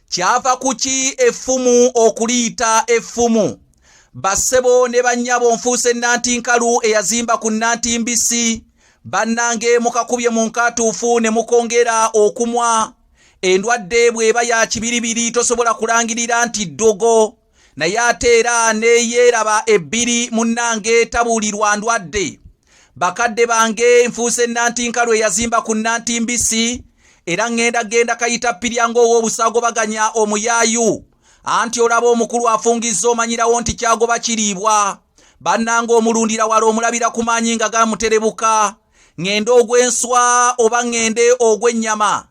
kyava kuki effumu okuliyita effumu bassebo ne bannyabo nfuuse nantinkalu eyazimba ku nantimbisi bannange mukakubye mu nkaatuufu ne mukongera okumwa endwadde bw'eba ya kibiribiri tosobola kulangirira nti ddogo naye ate era neyeeraba ebbiri munnange tabuulirwa ndwadde bakadde bange nfuuse nantinka lwe yazimba ku nanti mbisi era ŋŋenda genda kayita pirya ng'ow'obusaagobaganya omuyaayu anti olaba omukulu afungizza omanyirawo nti kyagoba kiriibwa bannanga omulundira wala omulabira ku maanyi nga gamuterebuka ŋŋende ogw'enswa oba ŋŋende ogw'ennyama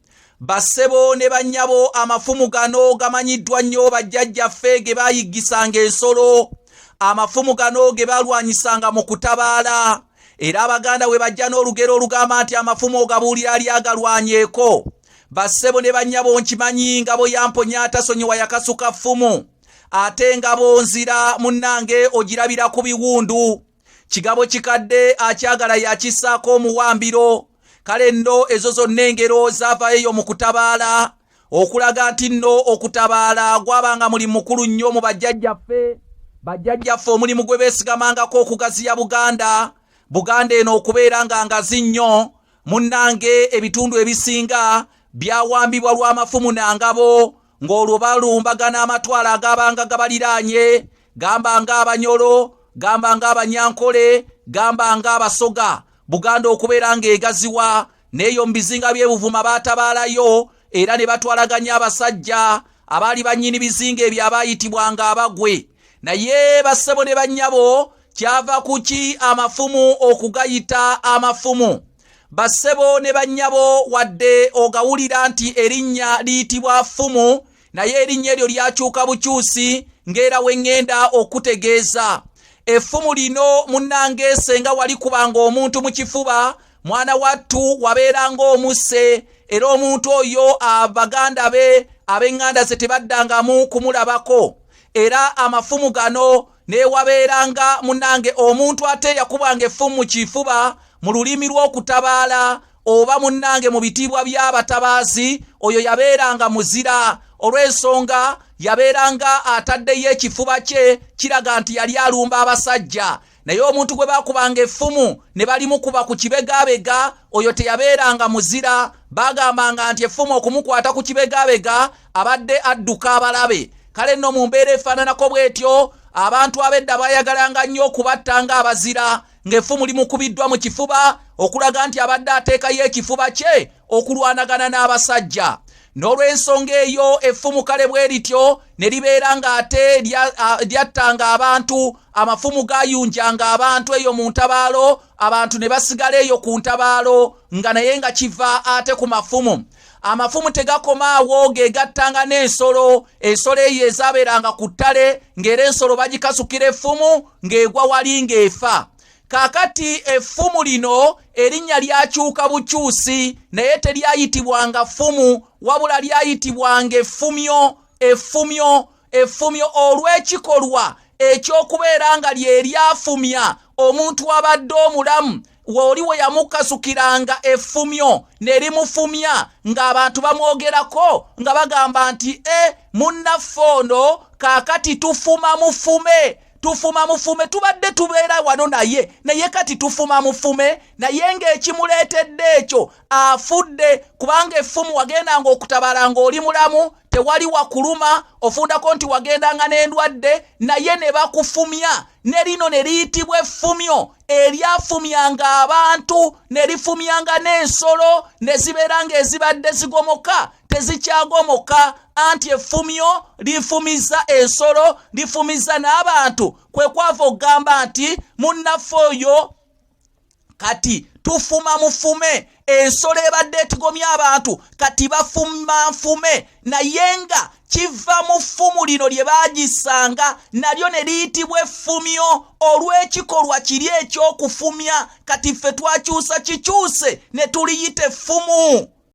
bassebo ne bannyabo amafumu gano gamanyiddwa nnyo bajjajjaffe ge baayiggisanga ensolo amafumu gano ge balwanyisanga mu kutabaala era abaganda we bajja n'olugero olugamba nti amafumu ogabuulira ali agalwanyeeko bassebo ne bannyabo nkimanyi ngabo yamponya atasonyiwa yakasuka ffumu ate ngabo nzira munnange ogirabira ku biwundu kigabo kikadde akyagala yakisaako omuwambiro kale nno ezo zonna engero zaavayo eyo mu kutabaala okulaga nti nno okutabaala gwabanga muli mukulu nnyo mu bajjajjaffe bajjajjaffe omulimu gwe beesigamangako okugaziya buganda buganda eno okubeera nga ngazi nnyo munnange ebitundu ebisinga byawambibwa lw'amafumu na ngabo ng'olwo balumbagana amatwalo agabanga gabaliraanye gamba ng'abanyolo gamba ng'abanyankole gamba ng'abasoga buganda okubeera ng'egaziwa n'eyo mu bizinga by'ebuvuma baatabaalayo era ne batwalaganya abasajja abaali bannyini bizinga ebyo abaayitibwanga abagwe naye bassebo ne bannyabo kyava kuki amafumu okugayita amafumu bassebo ne bannyabo wadde ogawulira nti erinnya liyitibwa fumu naye erinnya eryo lyakyuka bukyusi ng'era we ŋŋenda okutegeeza effumu lino munnange senga wali kubanga omuntu mu kifuba mwana wattu wabeeranga omusse era omuntu oyo abaganda be ab'eŋŋanda ze tebaddangamu kumulabako era amafumu gano newabeeranga munange omuntu ate yakubanga effumu mu kifuba mu lulimi lw'okutabaala oba munange mu bitiibwa by'abatabaazi oyo yabeeranga muzira olw'ensonga yabeeranga ataddeyo ekifuba kye kiraga nti yali alumba abasajja naye omuntu gwe baakubanga effumu ne balimukuba ku kibegabega oyo teyabeeranga muzira baagambanga nti effumu okumukwata ku kibegabega abadde adduka abalabe kale nno mu mbeera efaananako bw'etyo abantu ab'edda baayagalanga nnyo okubatta nga abazira ng'effumu limukubiddwa mu kifuba okulaga nti abadde ateekayo ekifuba kye okulwanagana n'abasajja n'olw'ensonga eyo effumu kale bwe lityo ne libeera ng'ate lyattanga abantu amafumu gaayunjanga abantu eyo mu ntabaalo abantu ne basigala eyo ku ntabaalo nga naye nga kiva ate ku mafumu amafumu tegakoma awo gegattanga n'ensolo ensolo eyo ezabeeranga ku ttale ng'era ensolo bagikasukira effumu ng'egwa wali ng'efa kakati effumu lino erinnya lyakyuka bukyusi naye teryayitibwanga ffumu wabula lyayitibwanga effumyo effumyo effumyo olw'ekikolwa eky'okubeera nga lye lyafumya omuntu abadde omulamu woli we yamukasukiranga effumyo ne limufumya ng'abantu bamwogerako nga bagamba nti e munnaffe ono kaakati tufuma mufume tufuma mufume tubadde tubeera wano naye naye kati tufuma mufume naye ng'ekimuleetedde ekyo afudde kubanga effumu wagendanga okutabala ng'oli mulamu tewali wakuluma ofundako nti wagendanga n'endwadde naye ne bakufumya ne lino ne liyitibwa effumyo eryafumyanga abantu ne lifumyanga n'ensolo ne zibeera ng'ezibadde zigomoka tezikyagomoka anti effumyo lifumiza ensolo lifumiza n'abantu kwe kwava okugamba nti munnaffe oyo kati tufuma mufume ensolo ebadde etigomya abantu kati bafuma nfume naye nga kiva mu ffumu lino lye baagisanga nalyo ne liyitibwa effumyo olw'ekikolwa kiri eky'okufumya kati ffe twakyusa kikyuse ne tuliyita effumu